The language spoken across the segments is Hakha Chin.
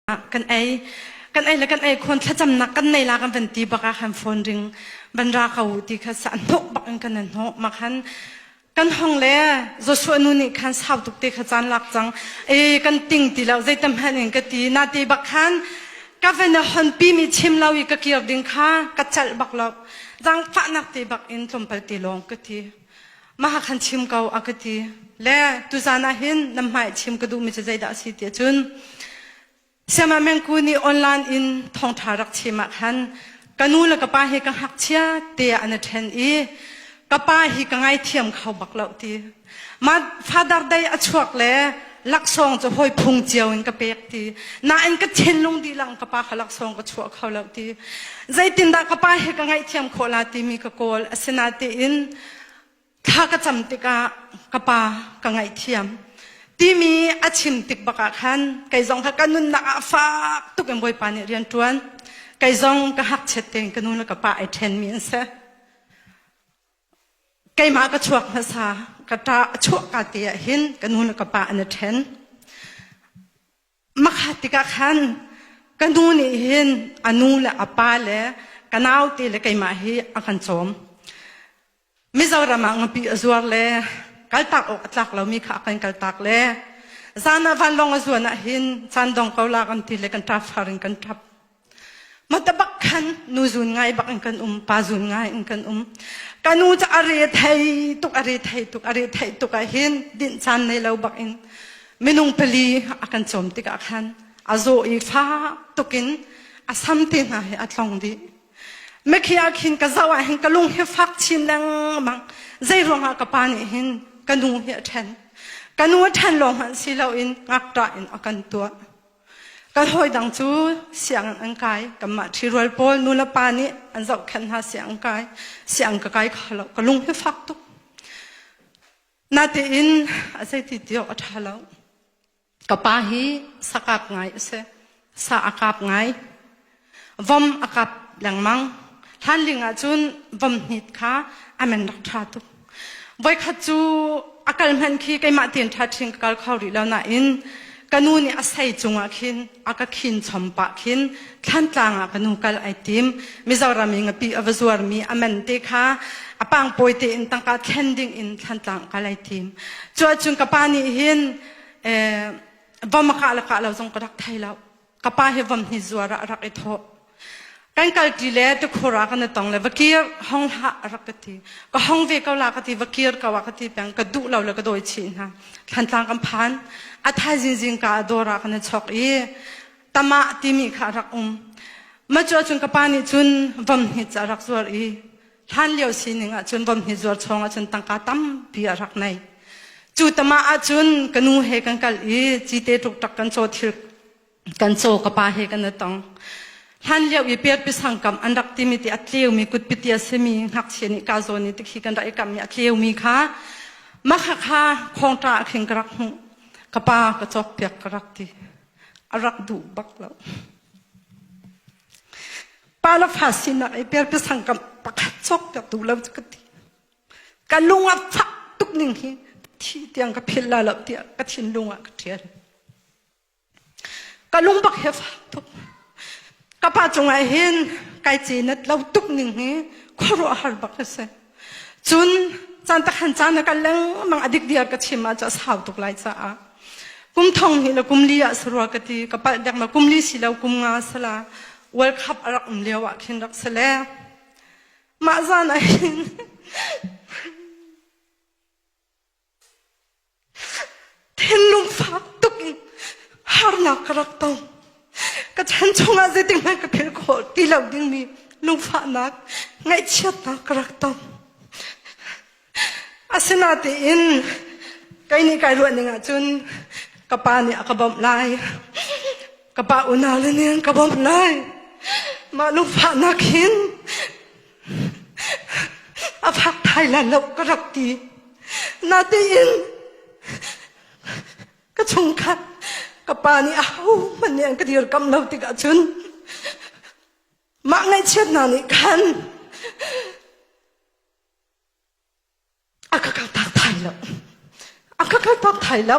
Ah, kan ei kan ei le kan ei khon thlacamnak kan nei la kan van ti bak ah khan phone ring van ra ka u ti kha sa hnuk bak in kan hnuk ma khan kan hong le Joshua nu nih khan sau tuk te kha chan lak cang e kan ting ti lo zei tam han in ka ti na ti bak khan ka van a hon pi mi chim lo i ka kir ding kha ka chal bak lo dang fa nak te bak in tlom pal te long ka ti maha khan chim ko a ka ti le tuzan ah hin nam hmai chim ka duh mi cu zeidah si ti cun siama mengku nih online in thongtha rak chim ah khan ka nu le ka pa hi ka hngakchia te an ṭhen i ka pa hi ka ngaithiam kho bak lo ti ma father dei a chuak le laksawng cu hoi phung cio in ka pek ti nain ka thinlung dilang ka pa kha laksawng ka chuah kho lo ti zeitin dah ka pa hi ka ngaihthiam khawh la timi ka kawl asina tein thla ka cam tikah ka pa ka ngaihthiam timi a chim tik bakah khan kei zong kha ka nunnak ah fak tuk in bawipa nih rian ṭuan kei zong ka hngakchiat tein ka nu le ka pa ai ṭhenmi an si keimah ka chuak hmasa ka ṭa a chuah ka te ah hin ka nu le ka pa an i ṭhen Makhat tikah khan ka nu nih hin a nu le a pa le ka naute le keimah hi a kan cawm. Mizoram ah ngapi a zuar le kaltak awk a tlak lomi kha a kan kaltak le zan ah vanlawng a zuan ahhin caan dong ko la kan ti le kan ṭap far in kan ṭap. Mata bak khan nu zun ngai bak in kan um, pa zun ngai in kan um. Ka nu ca a re thei tuk, a re thei tuk, a re thei tuk ah hin din chan nei lo bak in minung pali a kan chom tikah khan a zaw i fa tukin a samti hna hi a tlong dih. Mekhi ah khin ka zau ah hin ka lung hi fak chin lengmang. Zei ruangah ka pa nih hin ka nu hi a ṭhen. Ka nu a ṭhen lawng hmanh si loin ngakṭa in a kan tuah. Ka hawi dang cu siang an kai. Kanmah ṭhirual pawl nule pa nih an zohkhenh hna siang an kai. Siang ka kai kho lo. Ka lung hi fak tuk. Natein a zeiti ti awk a ṭha lo. Ka pa hi sakap ngai a si. Sa a kap ngai. Vom a kap lengmang. Hlanling ahcun vom hnit kha a men rak ṭha tuk. Voikhat cu a kal hmanh khi keimah tein ṭha ṭhin ka kal kho rih lo nain ka nu nih a sei cungah khin a ka khin chom pah khin thlantlang ah ka nu kal ai tim mizoram i ngapi a va zuarmi a men te kha a pang pawi tein tangka thlen ding in thlantlang kal ai tim cu ahcun ka pa nih hin eh, vom a kah le kah lo zong ka rak thei lo ka pa hi vam hni zuar ah rak i thawh kan kalti le te khura kan tong le vakir hong hla rak ka ti ka hong ve ko la ka ti vakir ka wa ka ti peng ka duh lo le ka doi chi hna thantlang kam phan a thai zing zing ka dora kan chok i tama timi kha rak um ma chu cun ka pa nih cun vam hni cha rak zuar i hlanlio sining ahcun vom hni zuar chawng ahcun tangka tampi a rak nei cu tama ahcun ka nu he kan kal i cite tuk kan caw thil kan caw ka pa he kan i tong hlan lio i per pisang kam an rak timi ti a tleumi kutpiti a simi ngakchia nih kazo ni tik hi kan rak i kam i a tlewmi kha makha kha khawngta a khing ka rak hmuh ka pa ka cawk piak ka rak ti a rak duh bak lo Pa le fa sinak i perpiasang kam pakhat cawktertu lo cu ka ti. Ka lung a fak tuk ning hi thi tiang ka phil la lo tiah ka thinlung ah ka ṭhial. Ka lung bak he fak tuk. Ka pa cungah hin kai cinat lo tuk ning hi khuaruah har bak a si. Cun caan takhan caan a kal lengmang a dikdiar ka chim ah cu a sau tuk lai caah kum thong hnih le kum li ah sarua ka ti ka palh dek ma kum li si lo kum nga sala world cup a rak um lio ah khin rak se le mah zan ah hin Thinlung fak tuk in harnak ka rak tong. Ka chan chungah zeitikhmanh ka philh khawh ti lo dingmi lungfahnak, ngaihchiatnak ka rak tong. Asinatein kei nih kai ruah ning ahcun ka pa nih a ka bawmh lai. Ka pa unau le nih an ka bawmh lai. Mah lungfahnak hin A fak thai la lo ka rak ti. Natein ka chungkhat ka pa nih ahohmanh nih an ka dirkamh lo tikah cun mah ngaihchiat hna nih khan a ka kal tak thai lo. A ka kal tak thai lo.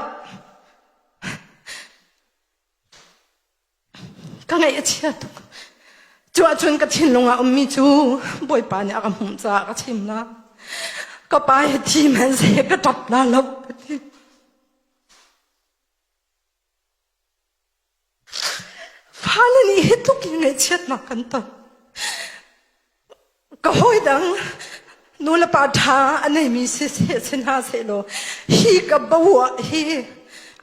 ka ngaih a chia tuk. Cu ahcun ka thinlung ah ummi cu Bawipa nih a ka hmuh caah ka chim la. Ka pa hi thi hmanhseh ka ṭap la lo ka ti. Fale nih hi tluk in ngaihchiatnak kan ton. ka hawi dang nulepa ṭha a neimi siseh si hna sehlaw hi ka boah hi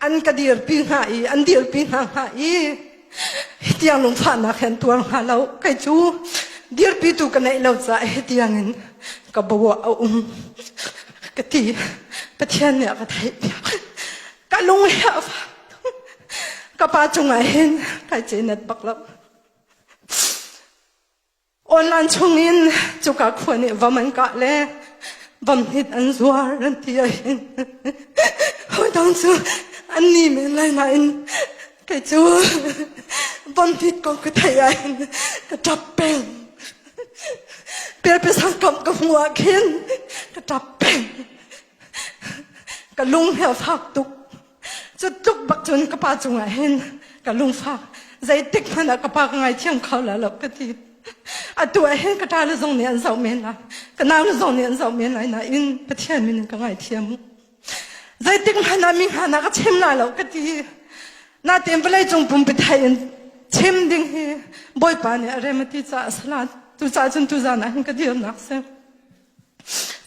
an ka dirpi hnga i an dirpi hna hnga i hi tiang lungfahnak hi an tuar hnga lo kei cu dirpitu ka neih lo caah hi tiang in ka boah a um ka ti pathian nih a ka theihpiak ka lung hi a fak tuk ka pa cungah hin kai ce net bak lo Awlan chungin cuka khua nih vom an kah le vom hnit an zuar an ti ahhin hawidang cu an ni men lai nain kei cu vom hnit kong ka theih ahhin ka ṭap peng. Pialpiasang kamh ka hmuh ahkhin ka ṭap peng. Ka lung hi a fak tuk. cu tluk bak cun ka pa cungah hin ka lungfak zeitik hmanh ah ka pa ka ngaithiam kho la lo ka ti atu ah hin ka ṭa le zong nih an zoh men lai ka nau le zong nih an zoh men lai nain pathian min in ka ngaithiam zeitik hmanh ah mi hna ka chim la lo ka ti natin vawlei cung pum pithai in chim ding hi bawipa nih a remati caah a salat tu caah cun tu zan ah hin ka dirnak si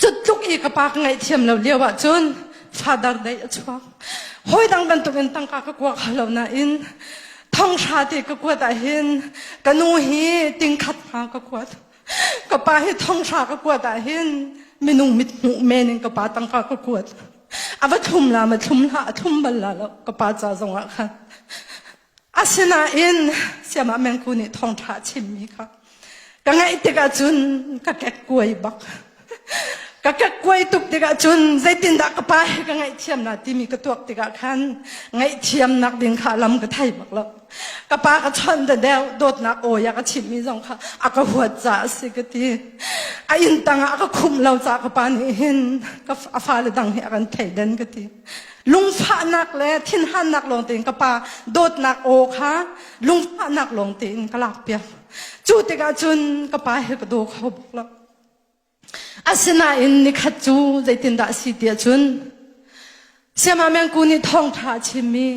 Cutluk i ka pa ka ngaihthiam lo lio ahcun father dei a chuak. Hawi dang bantukin tangka ka kua kho lo nain thonghra te ka kuat ahhin ka nu hi tingkhat hma ka kuat. Ka pa hi thonghra ka kuat ahhin minung mit hmuh men in ka pa tangka ka kuat. A va thlum la ma thlum hlah a thlum bal la lo ka pa ca zongah khan. Asinain siamah mengku nih thongtha chimmi kha ka ngaih tikah cun ka kek kuai bak. Ka kek kuai tuk tikah cun zeitindah ka pa he ka ngaihthiam na timi ka tuak tikah khan ngaihthiamnak ding kha lam ka thai bak lo. Ka pa ka chon da deu dawtnak awi a ka chimmi zong kha a ka huat ca a si ka ti. A inn tangah a ka khumh lo ca ka pa nih hin ka a fale dang hi a kan thei den ka ti. lungfahnak le thinhannak lawng tein ka pa dawtnak aw kha lungfahnak lawng tein ka lakpiak cu tikah cun ka pa he ka daw kho bak lo asinain nikhat cu zeitindah a si tiah cun siama mengku nih thawngtha a chimmi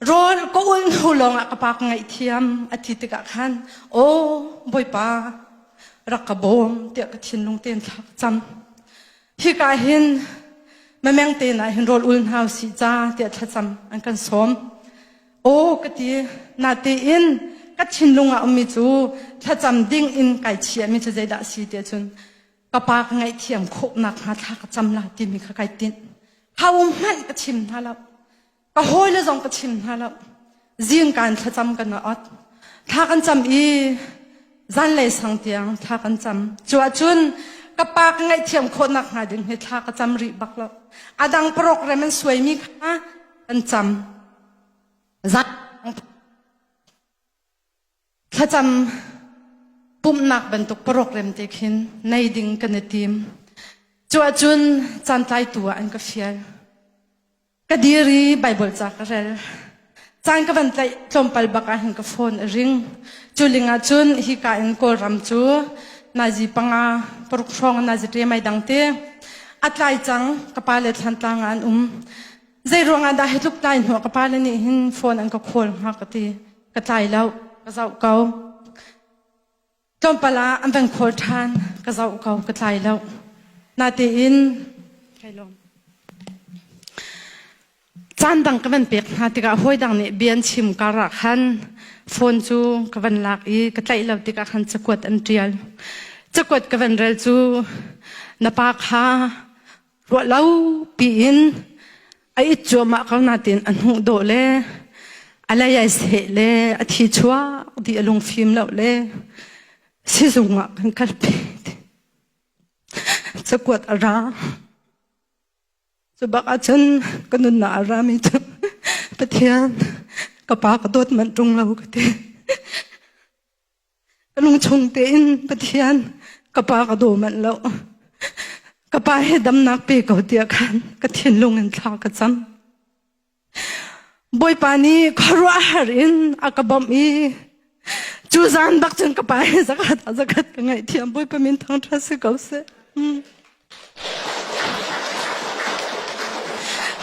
rawl ka ul hnu lawngah ka pa ka ngaihthiam a ti tikah khan aw bawipa rak ka bawm tiah ka thinlung tein thlak cam hika hin mameng te na hin rol ul hna si ca tiah thlacam an kan sawm aw ka ti na tein ka thinlung a ummi cu thlacam ding in kai chiami cu zeidah si tiah cun ka pa ka ngaihthiam khawhnak hnga thla ka cam la timi kha kai tinh kha um hmanh ka thim hna lo ka hawile zong ka chim hna lo zingkan thlacam kan wa ot thla kan cam i zanlei sang tiang thla kan cam cu ahcun ka pa ka ngaihthiam khawhnak hnga ding he thla ka cam rih bak lo a dang program an suaimi kha kan cam zan Thlacam pumhnak bantuk parok remte khin nei ding kan i tim. Cu ahcun caan tlaitu ah an ka fial. Ka dir i Baibal ca ka rel. Caan ka van tlaih tlawmpal bak ah hin ka phone a ring. Cu ling ahcun hi ka in Kawlram cu nazi panga paruk hrawng nazi ṭemai dang te a tlai cang ka pa le thlantlang ah an um. Zei ruangah dah hi tluk tlai hnua ka pa le nih hin phone an ka call hnga ka ti. ka tlai lo ka zoh ko tlawmpal ah an van khawl ṭhan ka zoh ko ka tlai lo natein kai lawm caan dang ka van pek hna tikah hawi dang nih bia an chim kar ah khan phone cu ka van lak i ka tlaih lo tikah khan cakuat an ṭial cakuat ka van rel cu na pa kha ruah lo piin a it cuahmah ko nain a hnuh dawh le a lei ai seh le a thi chuak dih a lungfim lo le sizung ah kan kalpi cakuat a ra cu bak ahcun ka nunnak a rami cu pathian ka pa ka dawt manh ṭung lo ka ti Ka lung chung tein Pathian ka pa ka daw manh lo. Ka pa he damnak pe ko tiah khan ka thinlung in thla ka cam. Bawipa nih khuaruahhar in a ka bawmh i cu zan bak cun ka pa he zakhat a zakhat ka ngaihthiam Bawipa min thangṭha si ko seh. Mm.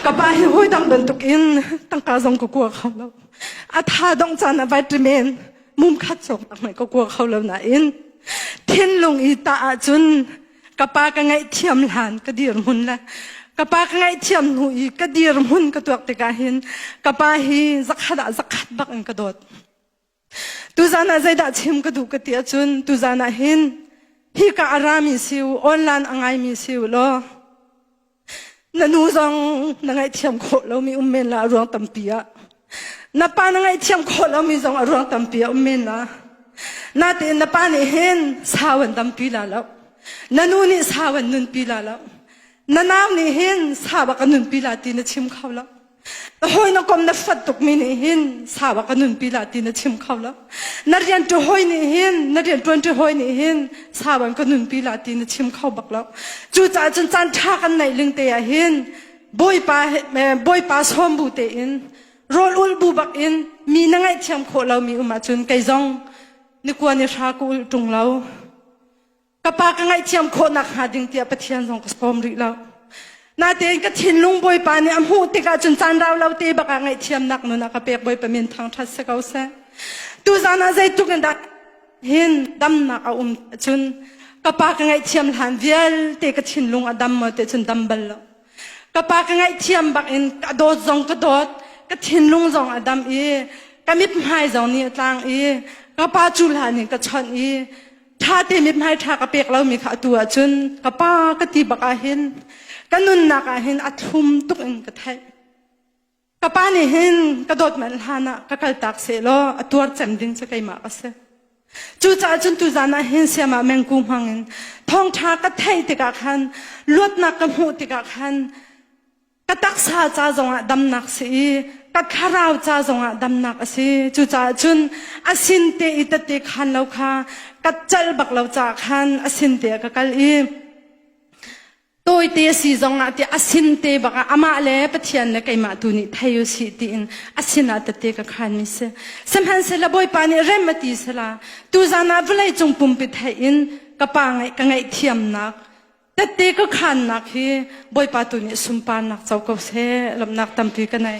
Ka pa hi hawi dang bantukin tangka zong ka kua kho lo. A tha dong caan a vai men mum khat chok tak mai ka kua kho lo na in thinlung i ta ah cun ka pa ka ngaih thiam hlan ka dir mun la ka pa ka ngaih thiam nu i ka dir mun ka tuak tikah hin ka pa hi zakhat ah zakhat bak in ka dawt Tuzan ah zeidah chim ka duh ka ti ahcun tuzan ah hin hika a rami si u online a ngaimi si u law na nu zong na ngaihthiam khawh lomi um men la ruang tampi ah na pa na ngaihthiam khawh lomi zong a ruang tampi a um men la natein na pa nih hin sau an dampi la lo na nu nih sau an nunpi la lo na nau nih hin sau bak a nunpi la ti na chim kho lo na hawi na kom na fat tukmi nih hin sawa ka nunpi la ti na chim kho lo na rian tu hoi nih hin na rian tuan tu hoi nih hin sawan ka nunpi la ti na chim kho bak lo cu caah cun caan tha kan neih ling te ah hin bawipa bawipa sawm bu te in rol ul bu bak in mi na ngaih thiam khawh lo mi um ahcun kei zong ni kua ni hra ku ul tung lo ka pa ka ngaihthiam khawhnak hnga ding tiah Pathian zong ka sawm rih lo. Natein ka thinlung bawipa nih a hmuh tikah cun caan rau lo te baka ngaihthiamnak nun a ka pek bawipa min thangṭhat si ko seh. Tuzan ah zeitluk in dah hin damnak a um cun ka pa ka ngaihthiam hlan vialte ka thinlung a dam mo te cun dam bal lo. Ka pa ka ngaihthiam bakin ka dawt zong ka dawt, ka thinlung zong a dam i ka mithmai zong nih a tlang i ka pa cu hlan in ka chawnh i ṭhate mit nai ṭha ka pek lomi kha atu ahcun ka pa ka ti bak ahhin ka nunnak ahhin a thum tuk in ka theih ka pa nih hin ka dawt manh hlan ah ka kal tak se law a tuar cem ding cu keimah ka si cucaah cun tuzan ah hin siama mengku hmang in thawngṭha ka theih tikah khan luatnak ka hmuh tikah khan ka taksa ca zongah damnak si i ka thlarau ca zongah damnak a si cucaah cun a sin te i tete khan lo kha ka cal bak lo caah khan a sin te ka kal i tawite si zongah ti a sin te bak ah amah le pathian le keimah tu nih thei u si tiin a sinah tete ka khan mi si sihmanhsehlaw bawipa nih rem a ti sela tu zan ah vawlei cung pumpi theih in ka pa ngaih ka ngaihthiamnak Tette ka khannak hi Bawipa tu nih sunparnak co ko seh. Lawmhnak tampi ka nei.